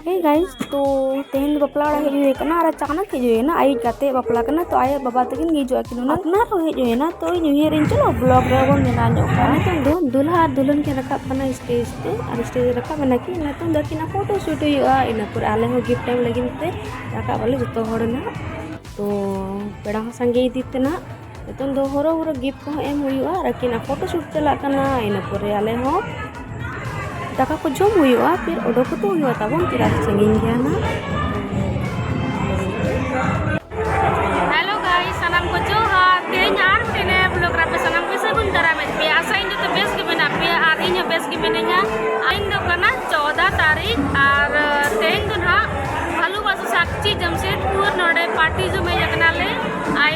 ᱦᱮᱸ ᱜᱟᱭᱤᱡ ᱛᱚ ᱛᱮᱦᱮᱧ ᱫᱚ ᱵᱟᱯᱞᱟ ᱚᱲᱟᱜ ᱦᱮᱡ ᱦᱩᱭ ᱟᱠᱟᱱᱟ ᱟᱨ ᱟᱪᱟᱱᱟᱠ ᱦᱮᱡ ᱦᱩᱭ ᱮᱱᱟ ᱟᱭᱩᱵ ᱠᱟᱛᱮ ᱵᱟᱯᱞᱟ ᱠᱟᱱᱟ ᱛᱚ ᱟᱭᱳ ᱵᱟᱵᱟ ᱛᱟᱹᱠᱤᱱ ᱦᱤᱡᱩᱜ ᱟᱹᱠᱤᱱ ᱚᱱᱟ ᱚᱱᱟ ᱨᱮ ᱦᱮᱡ ᱦᱩᱭ ᱮᱱᱟ ᱛᱚ ᱤᱧ ᱩᱭᱦᱟᱹᱨ ᱤᱧ ᱪᱚᱞᱚ ᱵᱞᱚᱜ ᱨᱮ ᱵᱚᱱ ᱵᱮᱱᱟᱣ ᱧᱚᱜ ᱠᱟᱜᱼᱟ ᱱᱤᱛᱚᱝ ᱫᱚ ᱫᱩᱞᱦᱟ ᱟᱨ ᱫᱩᱞᱦᱟᱱ ᱠᱤᱱ ᱨᱟᱠᱟᱵ ᱠᱟᱱᱟ ᱥᱴᱮᱡ ᱛᱮ ᱟᱨ ᱥᱴᱮᱡ ᱨᱮ ᱨᱟᱠᱟᱵ ᱮᱱᱟ ᱠᱤᱱ ᱱᱤᱛᱚᱝ ᱫᱚ ᱟᱹᱠᱤᱱᱟᱜ ᱯᱷᱳᱴᱳ ᱥᱩᱴ ᱦᱩᱭᱩᱜᱼᱟ ᱤᱱᱟᱹ ᱯᱚᱨᱮ ᱟᱞᱮ ᱦᱚᱸ ᱜᱤᱯᱷᱴ ᱮᱢ ᱞᱟᱹᱜᱤᱫ ᱛᱮ ᱨᱟᱠᱟᱵ ᱟᱞᱮ ᱡᱚᱛᱚ ᱦᱚᱲ ᱱᱟᱜ ᱛᱚ ᱯᱮᱲᱟ ᱦᱚᱸ ᱥᱟᱸᱜᱮ ᱤᱫᱤᱜ ᱛᱮ ᱱᱟᱜ ᱱᱤᱛᱚᱝ ᱫᱚ ᱦᱚᱨᱚ ᱦᱚᱨᱚ ᱜᱤᱯᱷᱴ ᱠᱚᱦᱚᱸ ᱮᱢ ᱦᱩᱭᱩᱜᱼᱟ ᱟᱨ ᱟᱹᱠᱤᱱ ᱟᱜ ᱯᱷᱳᱴᱳ ᱥᱩᱴ ᱪᱟᱞᱟᱜ ᱠᱟᱱᱟ ᱤᱱᱟᱹ ᱯᱚᱨᱮ ᱟᱞᱮ ᱦᱚᱸ ᱫᱟᱠᱟ ᱠᱚ ᱡᱚᱢ ᱦᱩᱭᱩᱜᱼᱟ ᱯᱷᱤᱨ ᱚᱰᱚᱠ ᱠᱟᱛᱮ ᱦᱩᱭᱩᱜᱼᱟ ᱛᱟᱵᱚᱱ ᱪᱮᱫᱟᱜ ᱥᱮ ᱥᱟᱺᱜᱤᱧ ᱜᱮᱭᱟ ᱱᱟᱜ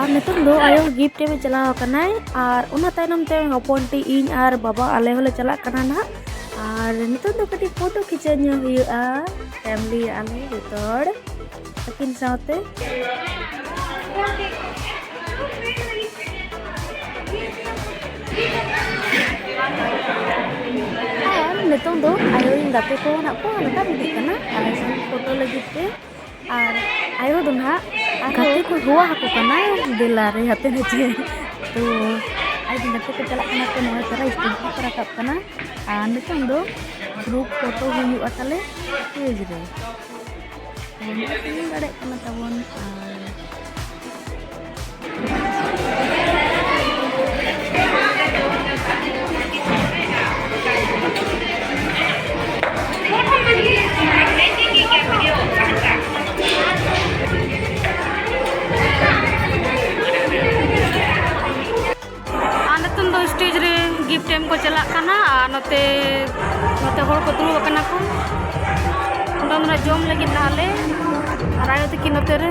ᱟᱨ ᱱᱤᱛᱚᱝ ᱫᱚ ᱟᱭᱳ ᱜᱤᱯᱴ ᱮᱢ ᱪᱟᱞᱟᱣ ᱟᱠᱟᱱᱟᱭ ᱟᱨ ᱚᱱᱟ ᱛᱟᱭᱱᱚᱢ ᱛᱮ ᱦᱚᱯᱚᱱ ᱴᱤ ᱤᱧ ᱟᱨ ᱵᱟᱵᱟ ᱟᱞᱮ ᱦᱚᱸᱞᱮ ᱪᱟᱞᱟᱜ ᱠᱟᱱᱟ ᱱᱟᱦᱟᱜ ᱟᱨ ᱱᱤᱛᱚᱝ ᱫᱚ ᱠᱟᱹᱴᱤᱡ ᱯᱷᱳᱴᱳ ᱠᱷᱤᱪᱟᱹᱣ ᱧᱚᱜ ᱦᱩᱭᱩᱜᱼᱟ ᱯᱷᱮᱢᱞᱤ ᱟᱞᱮ ᱡᱚᱛᱚ ᱦᱚᱲ ᱟᱹᱠᱤᱱ ᱥᱟᱶᱛᱮ ᱱᱤᱛᱚᱝ ᱫᱚ ᱟᱭᱳ ᱨᱮᱱ ᱜᱟᱛᱮ ᱠᱚ ᱱᱟᱜ ᱠᱚ ᱢᱮᱛᱟ ᱦᱤᱡᱩᱜ ᱠᱟᱱᱟ ᱟᱨ ᱯᱷᱳᱴᱳ ᱞᱟᱹᱜᱤᱫ ᱛᱮ ᱟᱨ ᱟᱭᱳ ᱫᱚ ᱱᱟᱜ ᱜᱟᱛᱮ ᱠᱚ ᱦᱚᱦᱚ ᱟᱠᱚ ᱠᱟᱱᱟ ᱫᱮᱞᱟ ᱨᱮ ᱦᱟᱛᱮ ᱱᱟᱪᱮ ᱛᱚ ᱟᱡ ᱨᱮᱱ ᱜᱟᱛᱮ ᱠᱚ ᱪᱟᱞᱟᱜ ᱠᱟᱱᱟ ᱛᱚ ᱱᱚᱣᱟ ᱪᱟᱨᱟ ᱥᱴᱮᱡᱽ ᱨᱮᱠᱚ ᱨᱟᱠᱟᱵ ᱠᱟᱱᱟ ᱟᱨ ᱱᱤᱛᱚᱝ ᱫᱚ ᱜᱨᱩᱯ ᱯᱷᱳᱴᱳ ᱦᱩᱭᱩᱜᱼᱟ ᱛᱟᱞᱮ ᱥᱴᱮᱡᱽ ᱨᱮ ᱫᱟᱲᱮᱭᱟᱜ ᱠᱟᱱᱟ ᱛᱟᱵᱚᱱ ᱟᱨ ᱱᱤᱛᱚᱝ ᱫᱚ ᱥᱴᱮᱡ ᱨᱮ ᱜᱤᱯᱷᱴ ᱮᱢ ᱠᱚ ᱪᱟᱞᱟᱜ ᱠᱟᱱᱟ ᱟᱨ ᱱᱚᱛᱮ ᱱᱚᱛᱮ ᱦᱚᱲ ᱠᱚ ᱫᱩᱲᱩᱵ ᱟᱠᱟᱱᱟ ᱠᱚ ᱚᱸᱰᱮ ᱢᱟᱱᱮ ᱡᱚᱢ ᱞᱟᱹᱜᱤᱫ ᱱᱟᱦᱟᱜ ᱞᱮ ᱟᱨ ᱟᱭᱳ ᱛᱟᱹᱠᱤᱱ ᱱᱚᱛᱮ ᱨᱮ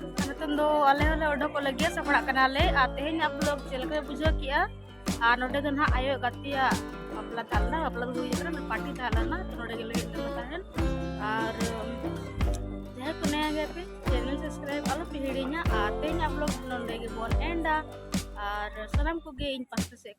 ᱱᱤᱛᱚᱝ ᱫᱚ ᱟᱞᱮ ᱦᱚᱸᱞᱮ ᱚᱰᱚᱠᱚᱜ ᱞᱟᱹᱜᱤᱫ ᱥᱟᱯᱲᱟᱜ ᱠᱟᱱᱟᱞᱮ ᱟᱨ ᱛᱮᱦᱮᱧᱟᱜ ᱵᱞᱚᱜ ᱪᱮᱫ ᱞᱮᱠᱟ ᱵᱩᱡᱷᱟᱹᱣ ᱠᱮᱜᱼᱟ ᱟᱨ ᱱᱚᱰᱮ ᱫᱚ ᱱᱟᱦᱟᱜ ᱟᱭᱳ ᱜᱟᱛᱮᱭᱟᱜ ᱵᱟᱯᱞᱟ ᱛᱟᱦᱮᱸ ᱞᱮᱱᱟ ᱵᱟᱯᱞᱟ ᱫᱚ ᱦᱩᱭ ᱟᱠᱟᱱᱟ ᱯᱟᱨᱴᱤ ᱛᱟᱦᱮᱸ ᱞᱮᱱᱟ ᱛᱚ ᱱᱚᱰᱮ ᱜᱮᱞᱮ ᱦᱮᱡ ᱞᱮᱱᱟ ᱛᱟᱦᱮᱱ ᱟᱨ ᱡᱟᱦᱟᱸᱭ ᱠᱚ ᱱᱟᱭᱟ ᱜᱮᱭᱟ ᱯᱮ ᱪᱮᱱᱮᱞ ᱥᱟᱵᱥᱠᱨᱟᱭᱤᱵ ᱟᱞᱚ ᱯᱮ ᱦᱤᱲᱤᱧᱟ ᱟᱨ ᱛᱮᱦᱮᱧᱟᱜ ᱵᱞᱚᱜ ᱱᱚᱰᱮ ᱜᱮᱵᱚᱱ ᱮᱱᱰᱟ ᱟᱨ ᱥᱟᱱᱟᱢ ᱠᱚᱜᱮ ᱤᱧ ᱯᱟᱥᱴᱟ ᱥᱮᱫ